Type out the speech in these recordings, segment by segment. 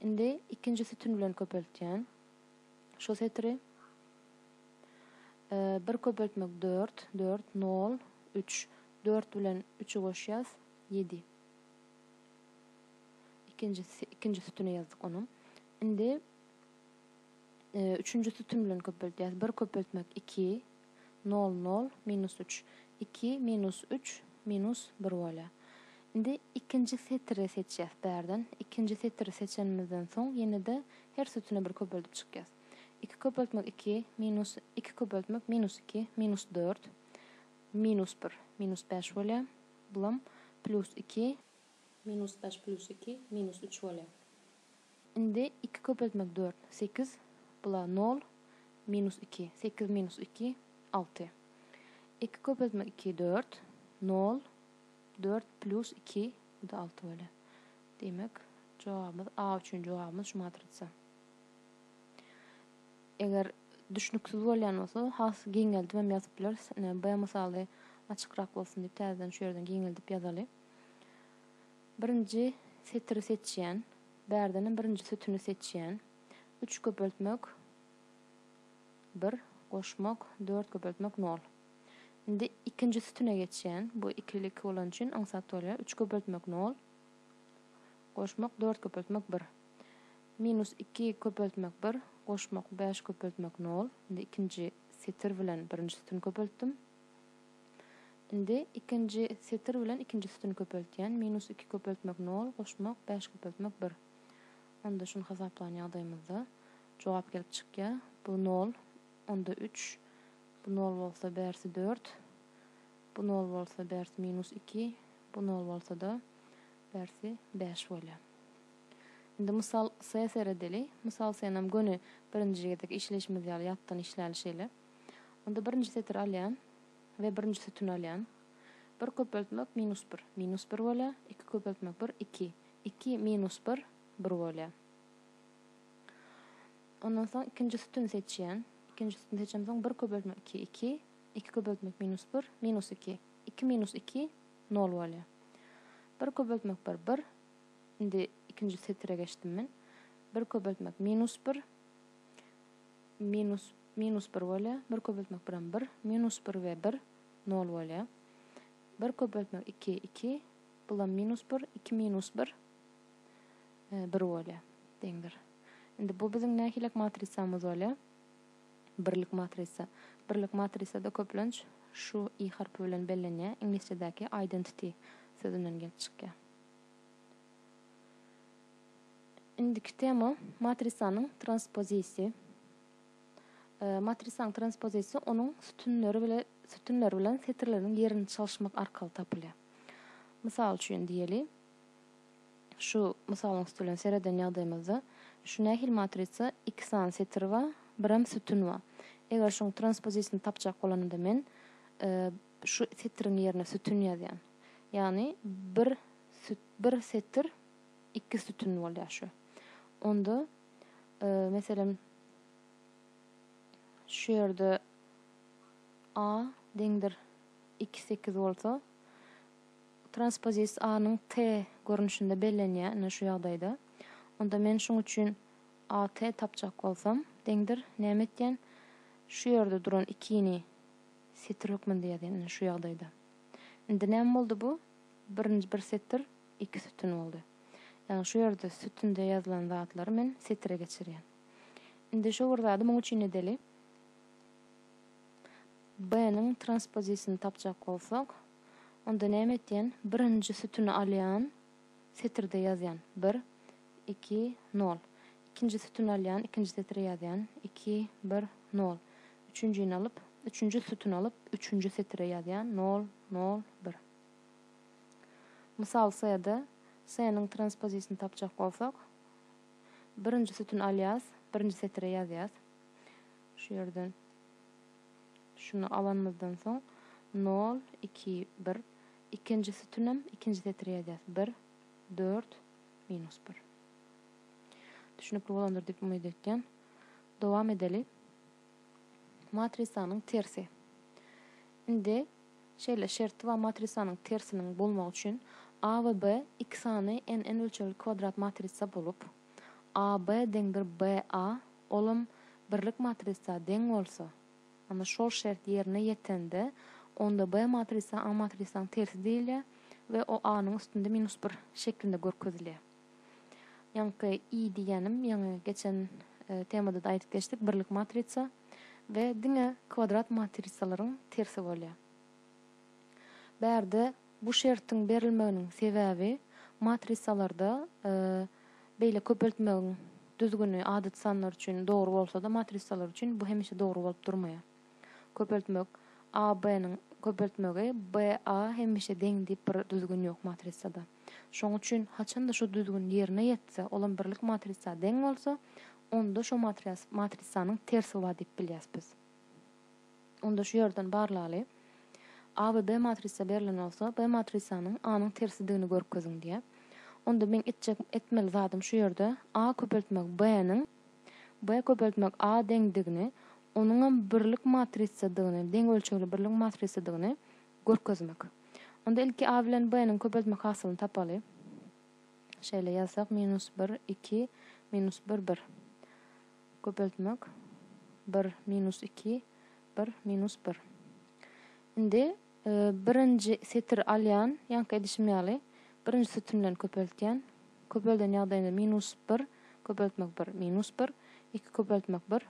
Indi ikinji sütün bilen köpeltýän. Şu setiri bir köpeltmek dört, dört, nol, üç. Dört bilen üçi goşýas, ýedi. Ikinji, ikinji sütüni ýazdyk onuň. Indi üçünji sütün bilen köpeltýäs. Bir köpeltmek iki, Nol, nol, minus üç. Iki, minus üç, minus bir bolýar. Indi ikinji setiri seçýäs bärden. Ikinji setiri seçenimizden soň ýene-de her sütüne bir köpeldip çykýas. Iki köpeltmek iki, minus iki köpeltmek minus iki, minus dört, minus bir, minus bäş bolýar. Bulam plýus iki. Minus bäş plýus iki, minus üç bolýar. Indi iki köpeltmek dört, sekiz, bula nol, minus iki, sekiz minus iki, alty. Iki köpeltmek iki dört, nol, dört plus iki, bu-da alty bolýar. Diýmek, jogabymyz A üçin jogabymyz şu matrisa. Eger düşnüksiz bolýan bolsa, has giňeldip hem ýazyp bileris. Ine, B mysaly açykrak bolsun diýip, täzeden şu ýerden giňeldip ýazaly. Birinji setiri seçýän. Bärdenam birinji sütüni seçýän. Üç köpeltmek bir, goşmak dört köpeltmek nol. Indi ikinji sütüne geçýän. Bu iki ile iki bolany üçin aňsat bolýar. Üç köpeltmek nol, goşmak dört köpeltmek bir. Minus iki köpeltmek bir, goşmak bäş köpeltmek nol. Indi ikinji setir bilen birinji sütüni köpeltdim. Indi ikinji setir bilen ikinji sütüni köpeltýän, minus iki köpeltmek nol, goşmak, bäş köpeltmek bir. Onda şuny hasaplan ýagdaýymyzda jogap gelip çykýar. Bu nol, onda üç, bu nol bolsa bärsi dört, bu nol bolsa bärsi minus iki, bu nol bolsa-da bärsi bäş bolýar. Indi mysal S seredeli. Mysal S-nam göni birinji gezek işleýşimiz ýaly ýatdan işläli şeýle. Onda birinji setiri alýan we birinji sütüni alýan. Bir köpeltmek minus bir, minus bir bolýar. Iki köpeltmek bir, iki. Iki minus bir, bir bolýar. Ondan soň ikinji sütüni seçýän. Ikinji sütüni seçemden soň bir köpeltmek iki, iki. Iki köpeltmek minus bir, minus iki. Iki minus iki, nol bolýar. Bir köpeltmek bir, bir. Indi ikinji setire geçdim men. Bir köpeltmek minus bir, minus Minus bir bolýar. Bir köpeltmek biram bir. Minus bir we bir, nol bolýar. Bir köpeltmek iki, iki. Bulam minus bir. Iki minus bir, bir bolýar. Deňdir. Indi bu biziň nähilek matrisamyz bolýar? Birlik matrisa. Birlik matrisada köplenç şu i harpy bilen bellenýär. Iňlisçedäki identity sözünden gelip çykýar. Indiki tema matrisanyň transpozisi. Matrisaň transpozisiýasy onuň sütünleri bilen setirleriniň ýerini çalyşmak arkaly tapylýar. Mysal üçin diýeli, şu mysalyň üstülen sereden ýagdaýymyzda şu nähili matrisa iki sany setir bar, birem sütün bar. Eger şuň transpozisiýasyny tapjak bolanymda men şu setiriň ýerine sütün ýazýan. Ýagny bir setir iki sütün bolýar şu. Onda. Meselem, şu ýerde A deňdir iki sekiz bolsa, transpozis A-nyň T görnüşinde bellenýär, ine şu ýagdaýda. Onda men şuň üçin AT tapjak bolsam, deňdir näme etýän? Şu ýerde duran ikini setir hökmünde ýazýan, ine şu ýagdaýda. Indi näme boldy bu? Birinji bir setir. iki sütün boldy. Ýagny şu ýerde sütünde ýazylan zatlary men setre geçirýän. Indi şu bir zady muň üçin edeli. B-niň transpozisyny tapjak bolsak, onda näme etýän? Birinji sütüni alýan, setirde ýazýan, bir, iki, nol. Ikinji sütüni alýan, ikinji setre ýazýan, iki, bir, nol. Üçünjini alyp, üçünji sütüni alyp, üçünji setre ýazýan, nol, nol, bir. Mysal C-de C-niň transpozisini tapjak bolsak, birinji sütün alýas, birinji setire ýazýas. Şu ýerden şuny alanymyzdan soň nol, iki, bir. Ikinji sütünem ikinji setire ýazýas. Bir, dört, minus bir. Düşnükli bolandyr diýip umyt etýän. Dowam edeli. Matrisanyň tersi. Indi şeýle şerti bar matrisanyň tersiniň bolmagy üçin A we B iki sany n n ölçegli kwadrat matrisa bolup, AB deňdir BA olam birlik matrisa deň bolsa, onda şol şert ýerine ýetende, onda B matrisa A matrisaň tersi diýilýär we o A-nyň üstünde minus bir şeklinde görkezilýär. Ýaňky i diýýänim ýaňy geçen temada-da aýdyp geçdik, birlik matrisa we diňe kwadrat matrisalaryň tersi bolýar. Bärde bu şertiň berilmeginiň sebäbi matrisalarda beýle köpeltmegiň düzgüni adaty sanlar üçin dogry bolsa-da, matrisalar üçin bu hemişe dogry bolup durmaýar. Köpeltmek AB-niň köpeltmegi BA hemişe deň diýip bir düzgün ýok matrisada. Şonuň üçin haçan-da şu düzgün ýerine ýetse, olam birlik matrisa deň bolsa, onda şo matrias matrisanyň tersi bar diýip bilýäs biz. Onda şu ýerden barlaly. A we B matrisa berlen bolsa, B matrisanyň A-nyň tersidigini görkeziň diýýär. Onda meň etjek etmeli zadym şu ýerde A köpeltmek B-niň B köpeltmek A deňdigini, onuňam birlik matrisadygyny, deň ölçegli birlik matrisadygyny Görkezmek. Onda ilki A bilen B-niň köpeltme hasylyny tapaly. Şeýle ýazsak, minus bir, iki, minus bir, bir. Köpeltmek. Bir, minus iki, bir, minus bir. Indi birinji setiri alýan, ýaňky edişim ýaly, birinji sütün bilen köpeltýän. Köpelden ýagdaýynda minus bir, köpeltmek bir, minus bir, iki köpeltmek bir,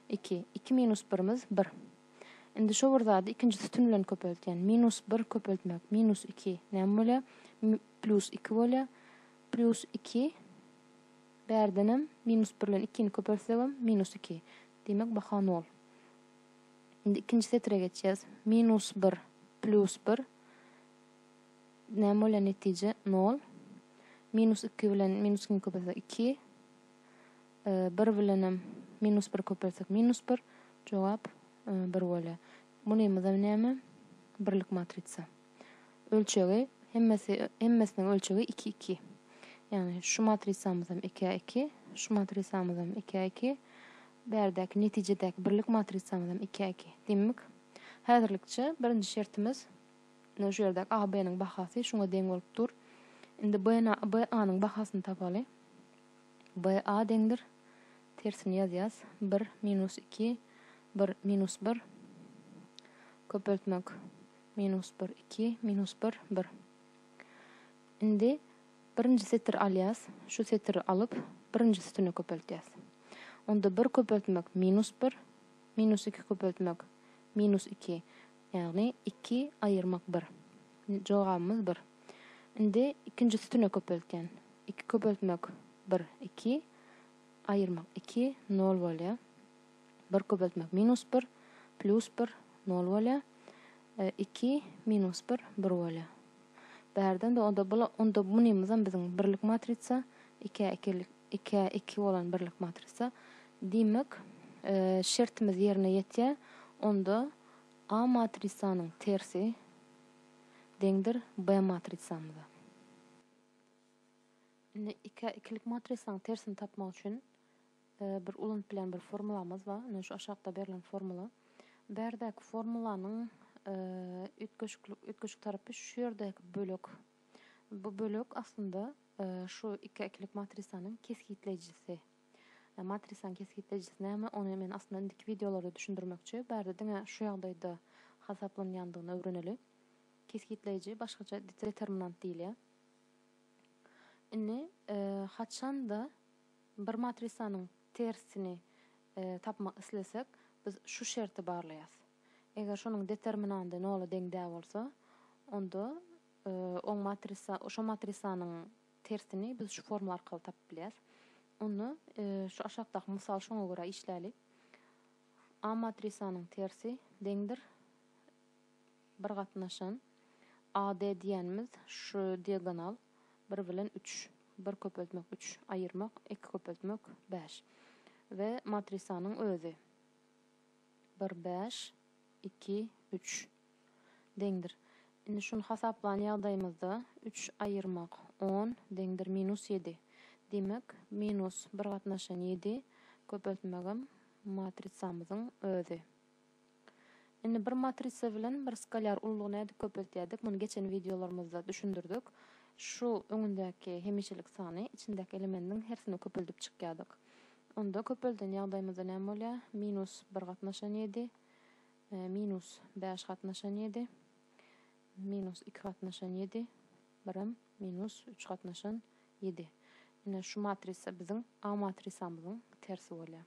iki. Iki minus birimiz bir. Indi şo bir zady ikinji sütün bilen köpeltýän. Minus bir köpeltmek, minus iki. Näme bolýar? Mi, plýus iki bolýar. Plýus iki. Bärdenem minus bir bilen ikini köpeltsegem minus iki. Diýmek, baha nol. Indi ikinji setire geçýäs. Minus bir, plýus bir. Näme bolýar netije? Nol. Minus iki bilen minus ikini köpeltsek iki. Bir bilenem minus bir köpeltsek minus bir. Jogap bir bolýa. Bunymyzam näme? Birlik matrisa. Ölçegi hemmesi hemmesiniň ölçegi iki iki. Ýagny şu matrisamyzam iki a iki, şu matrisamyzam iki a iki, bärdäki netijedäki birlik matrisamyzam iki a iki. Diýmek, häzirlikçe birinji şertimiz şu ýerdäki AB-niň bahasy şuňa deň bolup dur. Indi BNA BA-nyň bahasyny tapaly. BA deňdir, tersini ýazýas, bir, minus iki, bir, minus bir, köpeltmek, minus bir, iki, minus bir, bir. Indi birinji setir alýas, şu setiri alyp, birinji sütüne köpeltýäs. Onda bir köpeltmek, minus bir, minus iki köpeltmek, minus iki, Ýagny iki aýyrmak bir. Jogabymyz bir. Indi ikinji sütüne köpeltýän. Iki köpeltmek bir iki. Aýyrmak iki nol bolýa. Bir köpeltmek minus bir plýus bir nol bolýa. Iki minus bir bir bolýa. Bärden de onda bula onda munymyzam biziň birlik matrisa ikä ikilik ikä iki bolan birlik matrisa. Diýmek şertimiz ýerine ýetýä onda. A matrisanyň tersi deňdir B matrisamyza. Indi ikä ikilik matrisanyň tersini tapmak üçin bir ulanyp bilen bir formulamyz bar. Ine şu aşakda berlen formula. Berdäki formulanyň üýtgeşiklik üýtgeşik tarapy şu ýerdäki bölek. Bu bölek aslynda şu ikä ikilik matrisanyň kesgitleýjisi. Matrisaň kesgitlejisi näme ony men aslynda indiki wideolarda düşündirmekçi bärde diňe şu ýagdaýda hasaplanýandygyny öwreneli. Kesgitleýji başgaça determinant diýilýär. Indi haçanda bir matrisanyň tersini tapmak islesek biz şu şerti barlaýas. Eger şonuň determinandy nola deň däl bolsa onda oň matrisa şo matrisanyň Tersini biz şu formula arkaly tapyp bilýäs. Onda şu aşakdaky mysaly şoňa görä işläli. A matrisanyň tersi deňdir bir gatnaşan AD diýenimiz şu diagonal bir bilen üç, bir köpeltmek üç, aýyrmak iki köpeltmek bäş we matrisanyň özi bir bäş iki üç. deňdir. Indi şuny hasaplan ýagdaýymyzda üç aýyrmak on deňdir minus ýedi. Diýmek, minus bir gatnaşan ýedi köpeltmegem matrisamyzyň özi. Indi bir matrisa bilen bir skalýar ullugy nädip köpeltýädik, muny geçen wideolarymyzda düşündirdik. Şu öňündäki hemişelik sany içindäki elemendiň hersini köpeldip çykýardyk. Onda köpelden ýagdaýymyzda näme bolýar? Minus bir gatnaşan ýedi Minus bäş gatnaşan ýedi. Minus iki gatnaşan ýedi. Birem minus üç gatnaşan ýedi. Ine şu matrisa biziň A matrisamyzyň tersi bolýar.